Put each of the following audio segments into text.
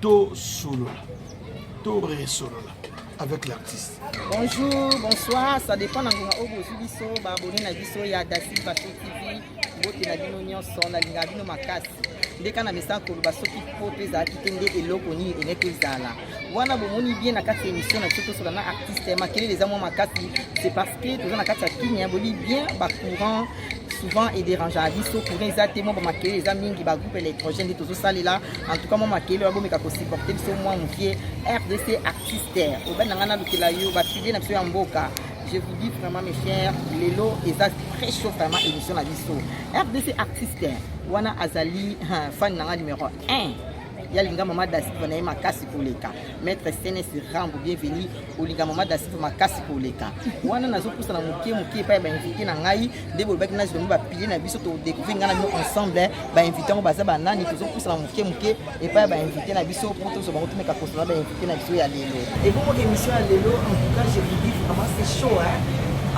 tosolola to resolola avec l'artiste bonjour bonsoir ça dépend na ngonga oyo bozwi biso baabone na biso ya dasi bato tv mbote na bino nyonso nalingaka bino makasi nde kaka na mesa koloba soki po mpe ezalaki te nde eloko nini eleki ezala wana bomoni bien na kati ya émission na biso tosola na artiste makelele eza mwa makasi c'est parce que toza na kati ya kimia boli bien bacourant souvent ederangeaka biso courant eza te mwa bamakele eza mingi bagroupe électrogène nde tozosalela en tout cas mwa makele oyo abomeka kosupporte biso mwa mokie rdc artiste obai na ngai nalukela yo bafilie na biso ya mboka je vous dis vraiment mes chers lelo eza très chaud vraiment émission na biso rdc artiste wana azali fan na ngai numero 1 ya linga mama dasiva na ye makasi koleka maître cns rambo bienvenu olinga mama dasiva makasi koleka wana nazopusa na moke moke epai ya bainvité na ngai nde bolobaki nazi bango bapile na biso todecouvrir ngai na bino ensemble bainvité yango baza banani tozopusa na moke moke epai ya bainvité na biso mpo tozwa bango tomeka kosana bainvité Mpe na biso ya lelo. Ebongo emission ya lelo en tout cas je vous dis vraiment c'est chaud hein.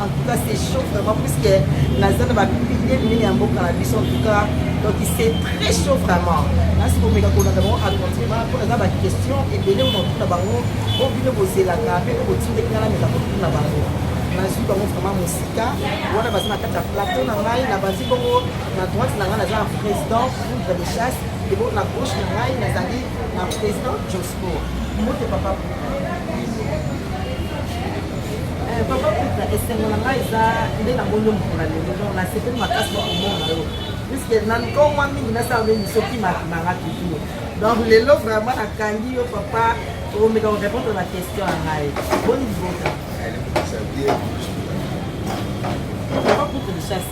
En tout cas c'est chaud vraiment puisque naza na ba pilier minene ya mboka na biso en tout cas donc c'est très chaud vraiment. Nasi komeka kolanda bango à continuer ba mpo naza ba question ebele mona kotuna bango mpo bino bozelaka mpe mpe botindeki nga nameka kotuna bango. nazwi bango vraiment mosika wana baza na kati ya plateau na ngai na bazi bongo na droite na ngai naza na président poudre de chasse ebo na gauche na ngai nazali Na president Josco. Mbote papa Puka. Eh, papa Puka, esengo na ngai eza nde na moyo mokona lelo. Donc na sepeli makasi na komona yo. Puisque na nkomwa mingi nasala nde misoki makimanga toujours. Donc lelo vraiment nakangi yo papa omeka korépondre na question ya ngai. Boni libota. Papa Puka, richesse.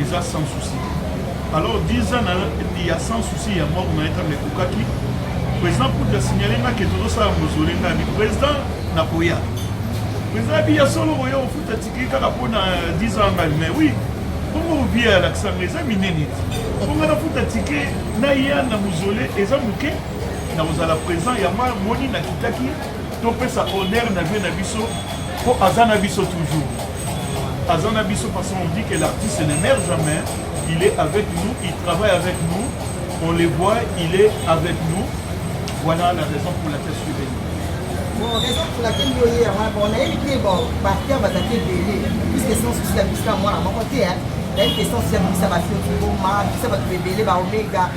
eza sans souci alors 10 ans ya sans souci ya mort na etambe ekokaki président putu asignale nga ke tozosala mozole nga bi président na koya président abi ya solo koya ofuta tikili kaka mpo na 10 ans ngai mais oui bongo obie ya lakisanga eza minene ti bongo nafuta tike naya na mozole eza moke nakozala présent yango amoni nakitaki topesa honneur na vie na biso mpo aza na biso toujours aza na biso parce qu'on dit que l'artiste ne meurt jamais il est avec nous il travaille avec nous on le voit il est avec nous voilà la raison pour laquelle je suis venu bon raison pour laquelle yo ye yango bon nayebi te bon bacteur bazalaki ebele puisque sans souci ya bisika mwana moko te nayebi te sans souci ya bikisa bafio kiboma bikisa bato ebele baomega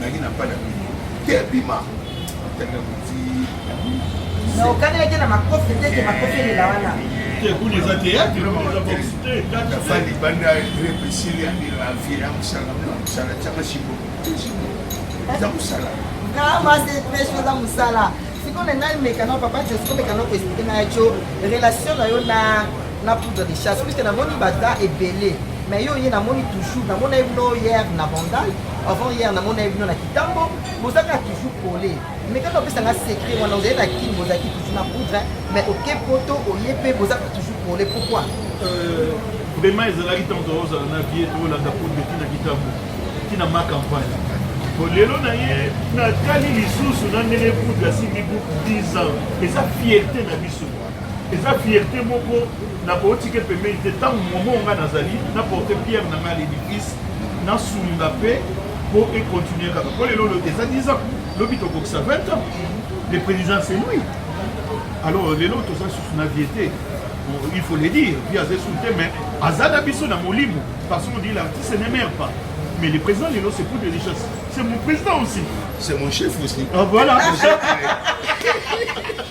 nangi na bana bino te bima tanga kuti na okana yake na makofi te ke makofi elela wana kuna eza teyatre nafandi banda repesili ya miravie ya mosala na mosala tyanga shimbo eza mosala kama se presho eza mosala sikoyo na ngai mekano papa jesu komekano koexplike na yaco relation na yo na na poudre de chasse puisque namoni baza ebele mais yo ye namoni toujours namona ye bino hier na bandal avant hier namona ye bino na kitambo boza kaka toujours pole mais kaka opesa nga secret wana ozali na kin bozalaki toujours na poudre mais oke poto oye mpe boza kaka toujours pole pourquoi euh, vraiment ezalaki ntango tozala na vie tolanda poudre ti na kitambo ti na ma campagne po lelo na ye natali lisusu na ndenge poudre asimbi buku 10 ans eza fierte na biso eza fierte moko na kotika pembeni te ntango momo ngai nazali na porte pierre na ngai ledivise nasunga mpe mpo ekontinue kaka mpo lelo eza 10 ans lobi tokokisa 20 ans le président c'est lui alors lelo toza susu na vie te il faut le dire vie aza esu te mais aza na biso na molimo parce qu'on dit l'artiste ne meurt pas mais le président lelo c'est pour de richesse c'est mon président aussi c'est mon chef aussi ah, voilà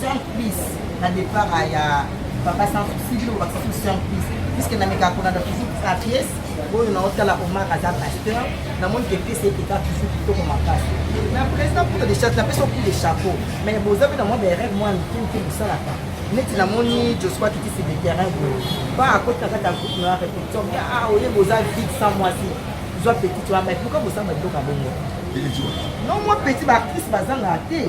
Surprise na départ ya papa sans souci bino bakisa tout surprise puisque na meka kona na toujours sa pièce oyo na otala Omar aza pasteur na moni que pièce ete ka toujours kitoko makasi na président pour de chapeau na pesa pour de chapeau mais boza pe na mwa berève mwa mike mike bosalaka neti namoni joshua kitisi de terrain boye ba akota kaka ta groupe na répétition mais ah oye boza vide sans mwasi zwa petit wana mais pourquoi bosamba biloko ya bongo non mwa petit baactrice bazangaka te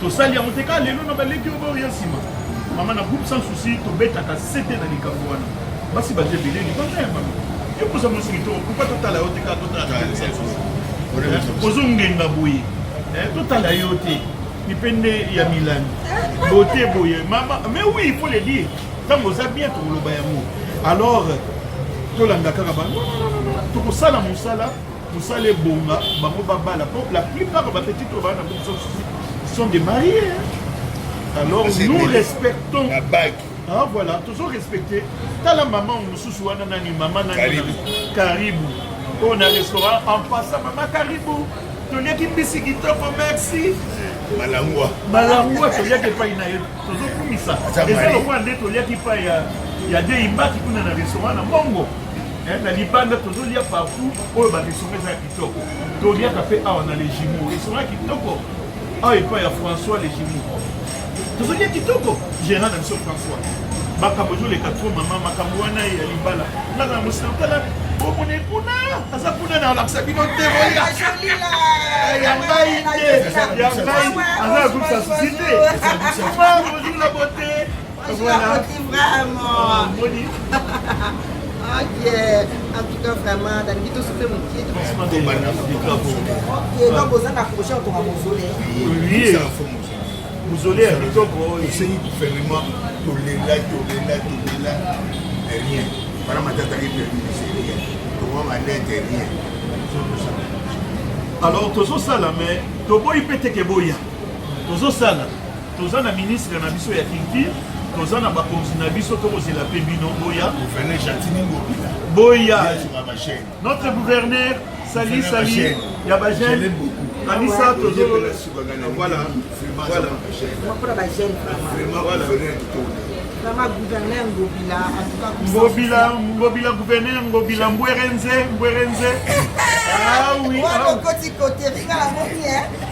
tosali yango te kaka lelo na baleki oyo baoya nsima mama na groupe sans souci tobetaka sete na likambo wana basi baza ebele libanda ya mama yo koza mwasi kitoko pourkoi totala yo te kaka totala sans souci ozongenga boye eh, totala yo te mipende ya milani bote boye mama mais oui il faut le dire ntango oza bien tokoloba yango alors tolanda kaka bango tokosala mosala Musala ebonga bango babala po la plupart ba petits oyo bana bango souci sont des mariés alors nous respectons la bague ah voilà tozo respecter tala maman mosusu wana nani maman nani karibu oyo na restaurant en passant maman karibu toliaki mbisi kitoko merci malangwa malangwa toliaki epai na ye tozokumisa eza lokola nde toliaki epai ya ya deimbaki kuna na restaurant na mbongo Eh, na libanda tozolia partout oyo bamisonga eza ya kitoko toliaka mpe awa na legimo esonga kitoko awa epai ya françois legimo tozolia kitoko gérant na biso françois makambo ezoleka tro mama makambo wana ya libala nga na mosantala omone kuna aza kuna na olakisa bino te boya ya ngai te ya ngai aza azokisa susi te makambo ozula bote mozole ya kitoko esengi gouvernement tolela tolela tolela rien wana matata ye permis de se rien tokoa malete rien alors tozosala mais toboyi mpe teke boya tozosala Toza na ministre na biso ya culture, toza na bakonzi na biso, tokozela mpe bino boya. Gouverneur Jatini Ngobila. Boya. Notre gouverneur, sali sali ya ba jeune. Kanisa tozo voilà. Voilà. Mapura ba jeune. Vraiment voilà. Ngobila, Ngobila gouverneur, Ngobila Mbwerenze, Mbwerenze. Ah oui. Moi, ah. mon côté, côté, regarde, hein.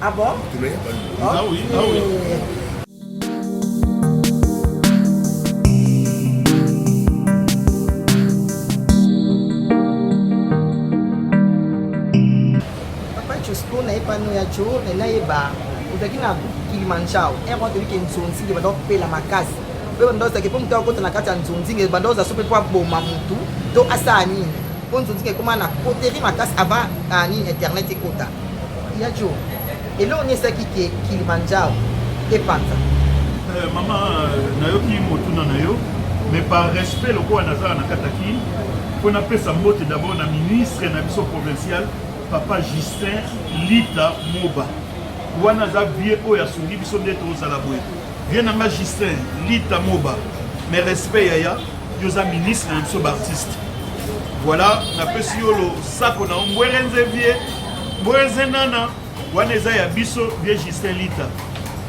Ah bon? Ah oui, ah oui. pano ya cho me nayeba ozalaki na kilimanjaro ere wana toyebike nzonzinge banda kopela makasi mpe banda ozalaki mpo moto akota na kati ya nzonzinge banda oza so mpe mpo aboma motu to asala nini mpo nzonzinge ekoma na koteri makasi avant nini internet ekota Ya Djo, eloko nini esalaki ke Kilimanjaro epanza? Eh, mama, euh, nayoki motuna na yo, mais par respect lokola nazala na kati ya kin, mpo napesa mbote d'abord na ministre na biso provincial, papa Justin Lita Moba. Wana aza vie oyo asungi biso nde tozala boye. Vieux na nga Justin Lita Moba, mes respects yaya, yo oza ministre na biso baartiste. Voilà, napesi yo lo sako na Mbwerenze vie, Mbwerenze nana, wana eza ya biso vieux Justin Lita,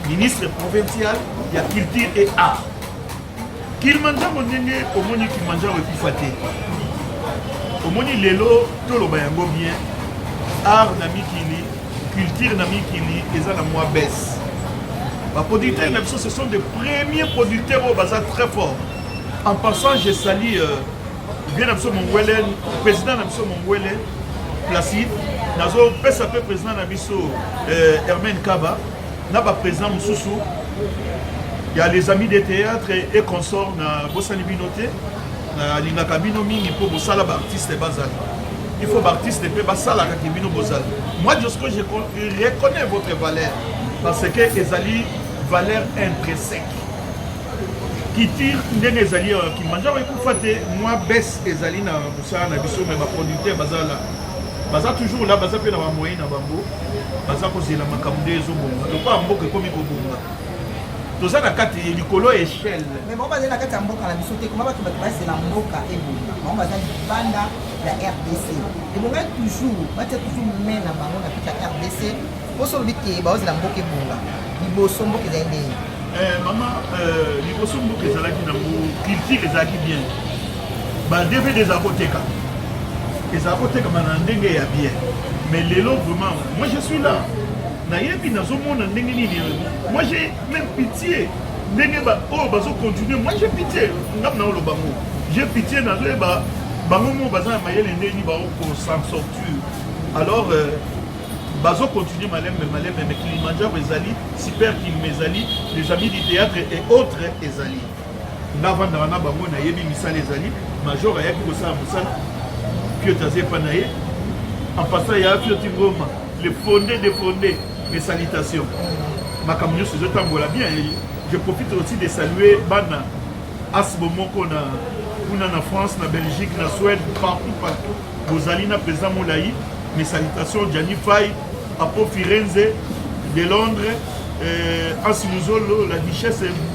ministre provincial ya culture et art. Kilimanjaro ndenge omoni Kilimanjaro ekufa te. Omoni lelo toloba yango bien, art na mikili Culture na mikili eza na mwa baisse. Ba producteurs na biso ce sont des premiers producteurs oyo baza très fort. En passant je salue euh, bien na biso Mongwele, président na biso Mongwele Placide nazopesa mpe président na biso euh, Hermène Kaba na ba président mosusu il y a les amis des théâtres et consorts na bosani bino te nalingaka bino mingi mpo bosala baartiste bazali Il faut b'artiste mpe basalaka ke bino bozali. Moi Josco je reconnais votre valeur parce que ezali valeur intrinsèque. kiti ndenge ezali ya kimanjaro ekufa te mwa bese ezali na mosala na biso me baproducteur baza la baza toujours la baza mpe na bamoyen na bango baza kozela makambo nde ezobonga lokola mboka ekomi kobonga toza na kati likolo ya echelle mais bango bazali na kati ya mboka na biso te koma bato bato bazela mboka ebonga bango baza libanda ya rdc ebongai toujours batia toujours mai na bango na kati ya rdc mposo olobi te baozela mboka ebonga liboso mboka ezali ndenge eh, mama eh, liboso mboka ezalaki nango culture ezalaki bien badvd eza koteka eza kotekama na ndenge ya bien mais lelo vraiment moi je suis là nayebi nazomona ndenge nini moi j'ai même pitié ndenge oyo oh, bazo continue moi j'ai pitié ngamu naoloba ngo j'ai pitié nazoyeba bango moko baza na mayele ndeni baokosan sortir alors euh, bazo continue malembe malembe mais kilimanjaro ezali super kilima ezali les amis du théâtre et autres ezali nga vandaka na bango nayebi misala ezali major ayaki kosala mosala piot aza epa na ye ampasa ya pioti ngoma le fonde de fonde mes salutations makambo nyonso ezotambola bien je profite aussi de saluer bana asbo moko na kuna na france na belgique na suède partout partout bozali na président molai mes salutations jani fai apo firenze de londres euh, ansi muzolo la duchesse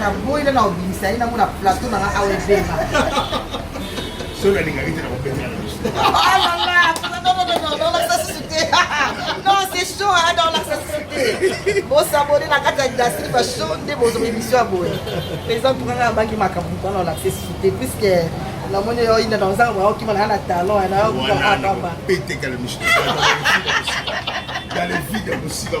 na boyi na na obimisa ye nango na plateau na nga awa ebema soki alingaki te nakobengana non c'est chaud hein, dans la société bosabone na kati ya dasri ba chaud nde bozo émission ya boye président touranga abaki makambo mpona olakse société puisque namoni yo ina na ozanga mwana okima na na talon na yo kaka pamba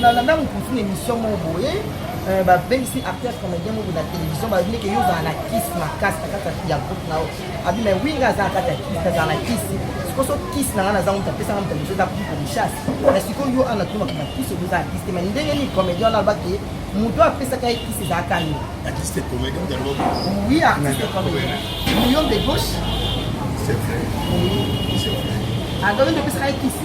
na landa mokusu na émission moko boye euh, babengisi acteur comédien moko na télévision balobi ke yo ozala na kisi makasi na kati ya groupe na yo abi mai wi nga aza na kati ya kisi azala na kisi sikoso kisi na nga naza moto apesanga moto mosu eza piko mishasi na sikoyo yo ana tuna kuna kisi oyo eza na kisi te mai ndenge nini comédien wana aloba ke moto apesaka ye kisi ezalaka yo oui artiste comédien million de gauche adoyo nde opesaka ye kisi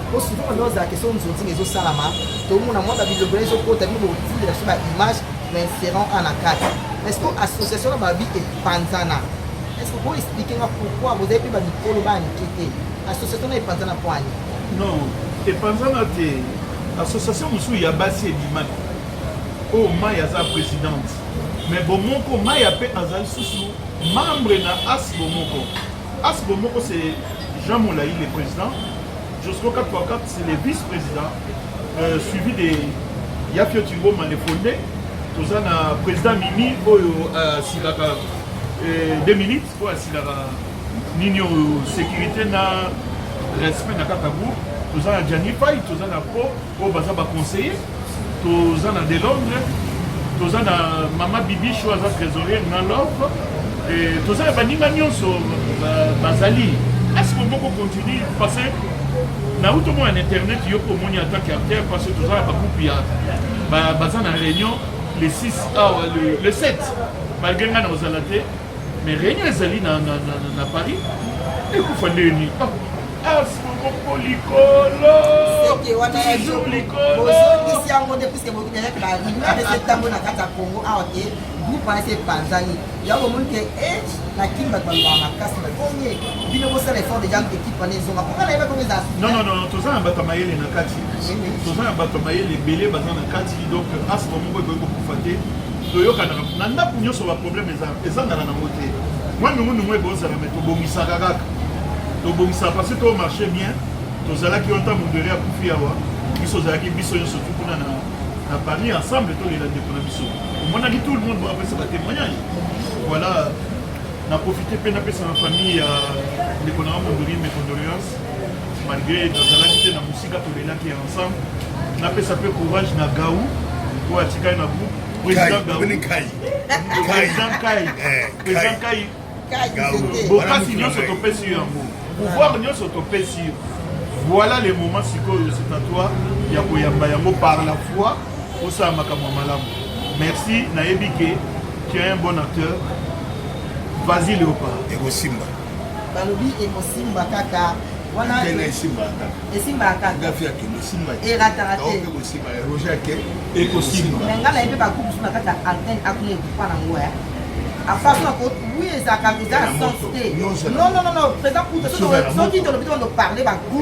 po souvent banda ozala question nzonzinga ezosalama tomona mwa babilobela ezokota bino bokotindela biso baimage na inserant a na kati est ce que association na babi epanzana est ce que bo explike nga pourquoi bozali mpe bamikolo banike te association na epanzana mpo ani non epanzana te association mosusu ya basi ebimaki oyo oh, mai aza présidente mais bomoko maya mpe azali susu membre na as bomoko As bomoko c'est Jean Molayi le président, Josco 4x4 c'est le vice-président, euh, suivi de Yafio Tingo Manefonde, toza na président Mimi oyo euh, asilaka euh, deux minutes oyo asilaka nini oyo sécurité na respect na kaka groupe toza na Gianni Pai toza na po Oyo baza ba conseiller toza na de Londres toza na mama Bibicho aza trésorier na love toza na baninga nyonso bazali est-ce que boko continue parce que na uto mona na internet yo ko moni en tant qu'acteur parce que toza na ba groupe ya baza na réunion le 6 awa le 7 malgré ngai na kozala te Mais réunion ezali na, na, na, na, na Paris ekufa nde nini afuku likolo seke wana ya bozongisi yango nde puiske bokinayaki ba reunion de septembre na kati ya congo awa te groupe wana se epanzani yango omoni te na kin bato baloba makasi bakomi bino bosala effort deja ekipe wana ezonga mpo ngana yebaki eza nonnono toza na bato ya mayele na kati toza na bato ya mayele ebele baza na kati donc asma moko ekoki kokufa te toyokanaka na ndako nyonso baproblème ezangaka nango te mwa ndungu ndungu ekozala me tobongisaka kaka tobongisaka parce to marché bien tozalaki yo ntango ndele akufi awa biso ozalaki biso nyonso tu kuna na na paris ensemble tolela ndeko na biso omonaki tout le monde apesa batémoignage voilà na profite mpe napesa na famille ya ndeko na nga mondoli mes condoléances malgre nazalaki te na mosika tolelaki ya ensemble napesa mpe courage na gau oyo atikali na groupe président gau président kai eh, président kai bokasi nyonso topesi yo yango pouvoir nyonso topesi yo voilà le moment sikoyo c'est à toi ya koyamba yango par la foi osala makambo malamu merci nayebi ke tu es un bon acteur vas-y léopard ekosimba balobi ekosimba kaka wana kene esimbaka kaka esimbaka kaka gafi akende esimba erataka te oke kosimba roger ake ekosimba mais ngala ye mpe bakubu so na kati ya antenne akuna ekupa na ngo ya afasona ko oui ezalaka eza na sens te non non non non président kuta soki tolobi tokondo parle bakubu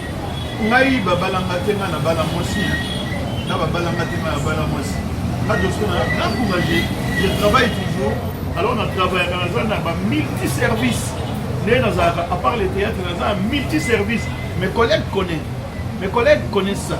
ngai babala nga te nga na bala mwasi na babala nga te nga na bala mwasi nga toso na grand courage je travaille toujours alors na travaillaka naza na ba multi service nde nazalaka à part le théâtre naza na multi service mes collègues connaissent mes collègues connaissent ça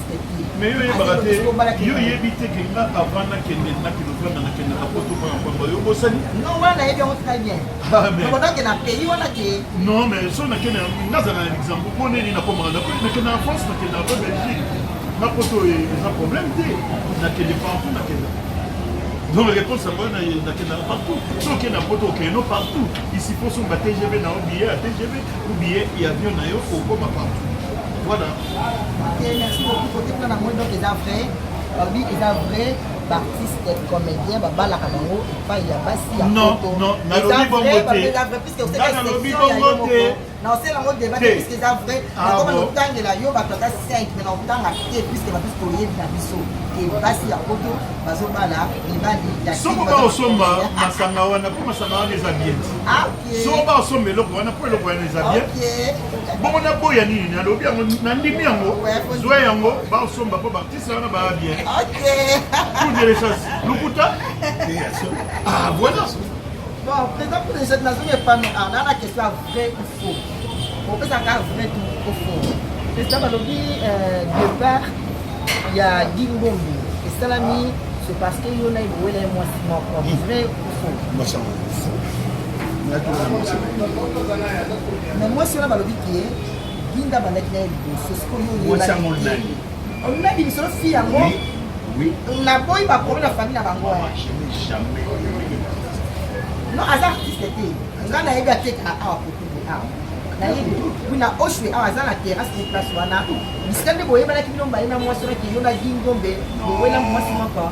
mais yo yebaka te yo yebi te ke nga avant nakende nakende ofanda nakendaka poto mpo na mpamba yo obosani non wana nayebi yango très bien nakodake na pays wana te non mais so nakende nga azala na luxembourg mpo nini nakomaka nakende na france nakende na belgique na poto eza problème te nakende partout nakenda donc réponse yango nakendaka partout soki na poto okeno partout isipo somba tgv na yo billet ya tgv ou billet ya avion na yo okoma partout Voilà. Ok, merci beaucoup. Côté plan à moi, donc, ils ont vrai. Babi, ils ont vrai. baartiste comédien babalaka bango epai ya basi ya nalobi bongo te nalobi bongo te naosela yango debat te puiske eza vrai nakoma notangela yo bato ata 5 me naotanga te puiske bato toyebi na biso ke basi ya poto bazobala mibali ya soko baosomba masanga wana mpo masanga wana eza bien zoba osomba eloko wana mpo eloko wana eza bien bongo naboya nini nalobi yango nandimi yango zwa yango baosomba mpo baartiste wana baa bien pour de lechance lokuta ah voilà bon président pour les jeunes nazongi epano ah, na na question ya vrai ou faux opesaka vrai ou faux président balobi euh, départ ya dingombi esalami c'est parce que yo na ye bowela ye mwasi moko vrai na mwasi wana balobi ke linda bandaki na ye liboso sikoyoolobaki misolo fi yango naboyi bakomi na famille na bango non aza artiste te nga nayebi ateka awa kotubu awa nayebi kuna oshwe awa aza na terrasse ni place wana bisika nde boyebanaki bino mbaye na mwasi wana keyo na gingombe bowela mwasi moko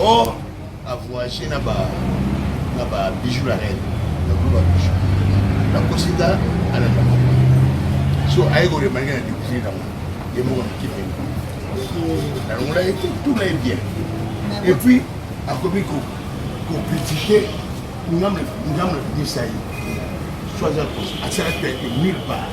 or a voyagé na ba na ba bijoux la reine na ba bijoux na kosika ala na so aye ko remarquer na découvrir na ye moko na kipe na longola ye tout na ye bien et puis akomi ko ko critiquer ngamle ngamle bisa ye soit à cause à ça peut être nulle part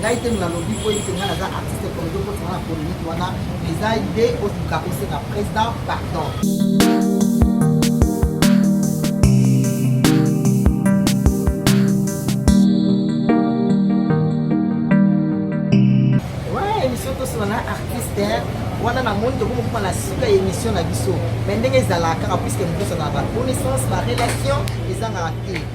ngai te nalobi mpo ete ngai naza artiste komedi okotinga na polemiki wana eza nde osuka kosenga président pardon tosona artiste wana na moni tokomi kokoma na suka ya émission na biso mai ndenge ezalaka kaka puiske mokoso na ba connaissance ba relation ezangaka te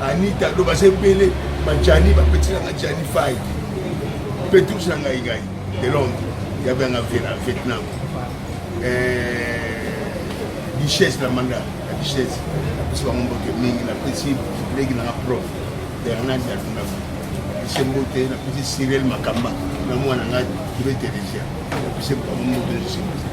Anita do baza ebele bajani bapeti na nga jani fai petrus na ngai ngai de londre ya banga vela vietnam eh, duchesse na manda ya duchesse napesi bango mbote mingi napesi leki nanga prof bernard ya lundamu napesi mbote napesi cyril makamba na mwana ngai ibe teresia napesi bango mbote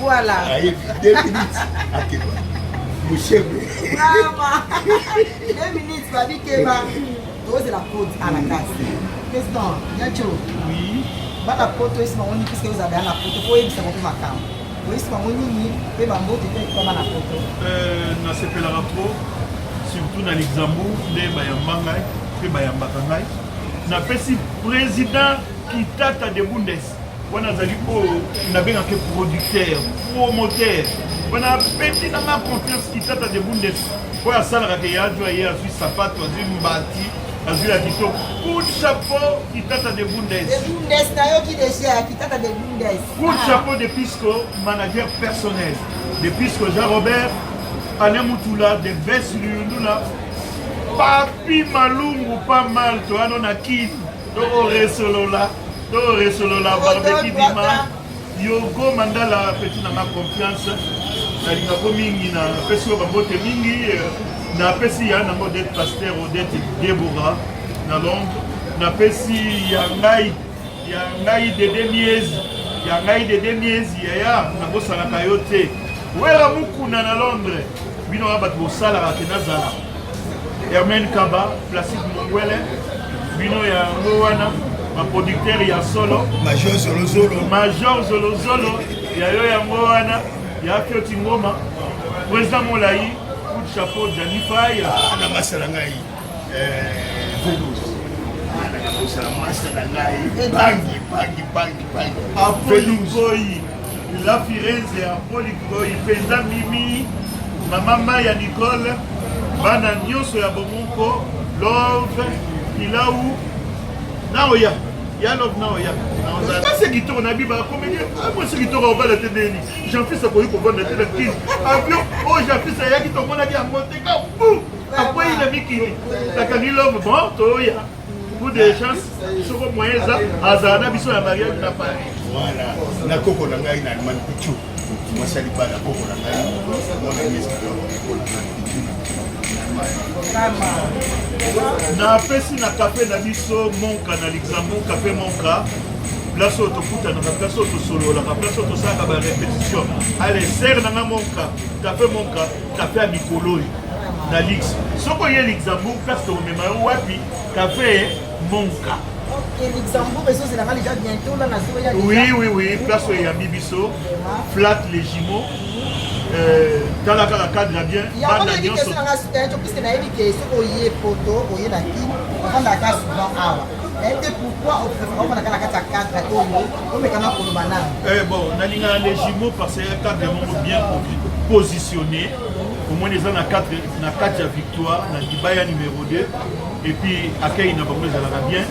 Voilà. Ayebi deux minutes akeba. Mushebe. Mama. Deux minutes babi keba. Tozela code à la casse. Question, Yacho. Oui. Bana poto esi bango nini puisque oza bana na poto po oyebisa bango makambo. Oyebisa bango nini pe bambote pe ekoma na poto. Euh, nasepelaka trop surtout na luxembourg nde bayamba ngai mpe bayambaka ngai napesi président kitata de bundes wana azali oyo nabengaka producteur promoteur wana apeti na nga confiance kitata de bundes oyo asalaka ke yajwa ye azwi sapato azwi mbati azwi ya kitoko coup chapeau kitata de bundes coup ah. chapeau de pisco manager personnel de pisco jean robert ane mutula de ves luyundula papi malungu pa mal toyano na kini toko resolola toko resolola barbeki dima yogo mandala peti nanga confiance nalingako mingi na pesi yo babote mingi napesi ya nango odete paster odete debora na londre napesi ya ngai ya ngai dede miezi ya ngai dede miezi yaya nakosalaka yo te wela mukuna na londre bino wana bato bosalaka te nazala Hermène Kaba, Placide Mongwele, bino ya ngo wana ba producteur ya solo Major Zolo Zolo, Major Zolo Zolo ya yo ya ngo wana ya Fioti Ngoma, Président Molayi, coup de chapeau Gianni Faye. Ah, na masala ngai. Eh, Vénus. Ah, na masala ngai. Bangi, bangi, bangi, bangi. Apollo Vénus. Ngoyi. La Firenze ya Polikoi mpenza Mimi, mama Maya Nicole, bana nyonso ya bomoko Love Pilau naoya ya Love naoya kasi kitoko na biba akomeli ah, mwasi kitoko obala te ndeni Jean-Fils akoki kovanda te na kini avion oyo oh, Jean-Fils ayaki tomonaki yango te kabu akwei na mikili akangi Love bon toya Coup de chance, soko moyen eza azala na biso na mariage na Paris. Voilà. Na koko na ngai na Allemagne Pichu. Mwasi alipa na koko na ngai. Mwana miezi kwa koko na ngai Pichu. napesi na kafe na biso monka na luxembourg kafe monka place oyo tokutanaka place oyo tosololaka place oyo tosalaka barepetition ale sere na nga monka kafe monka Kafe ya mikolo oyo na lix soki oye luxembourg place tokomema yo wapi kafe monka oui oui oui place oyo eyambi biso flat les jumeaux euh, tala kaka cadre bien bana nyonso nayebi ke soki oye poto oye na kin ofandaka souvent awa Eh bon, nalinga les jumeaux parce que cadre moko bien positionné. Au moins les na 4 na 4 ya victoire, na libaya numéro 2 et puis accueil na bango ezalaka bien.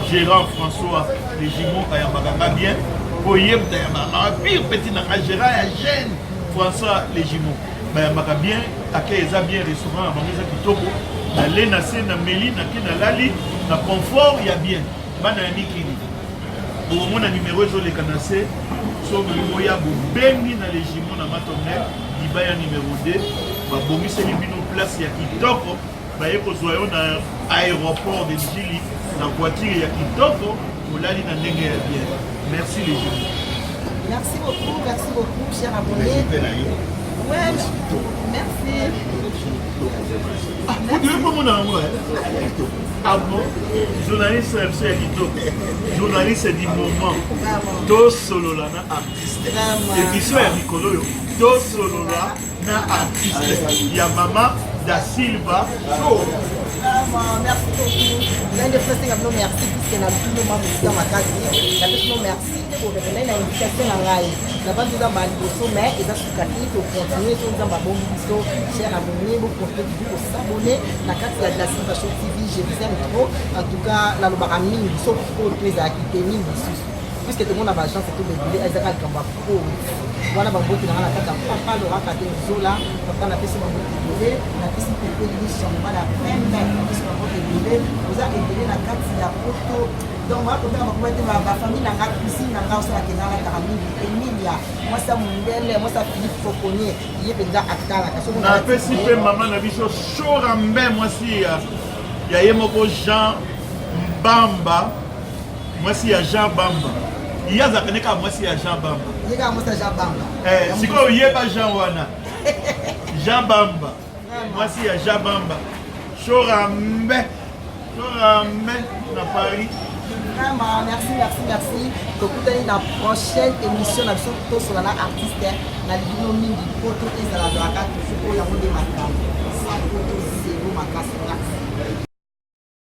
Gérard François les jumeaux ayambaka nga bien. Boyebda ya mama pire petit na Gérard ya jeune François les jumeaux. bayambaka bien ake eza bien restaurant ya bango eza kitoko nale na se na meli nake nalali na confort ya bien bana ya mikili bokomona nimero ezoleka na se so bolingi boya bobengi na legimo na matonel libaya nimero 2 babongiseli bino place ya kitoko baye kozwa yo na aéroport de Ndjili na voiture ya kitoko olali na ndenge ya bien merci les jeunes merci beaucoup merci beaucoup cher abonné ouais merci odewe ah, komona yango abo eh? ah journaliste ya biso ya kitoko journaliste du moment tosolola na artiste émission ya mikolo oyo tosolola na artiste ya mama da silva show merci beaucoup nande presenga bino merci puisque na bino ma mosika makasi na bino merci te borevenai na invitation na ngai na bantu eza ba liboso mais eza suka te tocontinue to nzambe abongi biso cher abonne bocontinue tozi kosabone na kati ya glasinfation tv je vous aime trop en tout cas nalobaka mingi soki poto ezalaki te mingi lisusu puisque tomona ba agence tout debile ezaka likambo ya kose wana baboti nanga na kati ya papa loraka te zola papa napesi bango ebele napesi pepe lishanma na pembe napesi bango ebele oza ebele na kati ya poto donc wana kotanga bakoba te bafamille nanga cuisine nanga osalaka eza alataka mingi emilia mwasi ya mondele mwasi ya philippe fokonie ye mpenza atalaka napesi mpe mama na biso shorambe mwasi ya ye moko jean mbamba mwasi ya jean bamba ye azalaka nde kaka mwasi ya jean bamba eh, sikoyo yeba jean wana jean bamba mwasi ya jean bamba shorambe shorambe na paris vraiment merci merci merci tokutani na prochaine émission na biso tosola na artiste na libino mingi mpo to ezala zalaka toujours oyo yango nde makambo sa poto zero makasi merci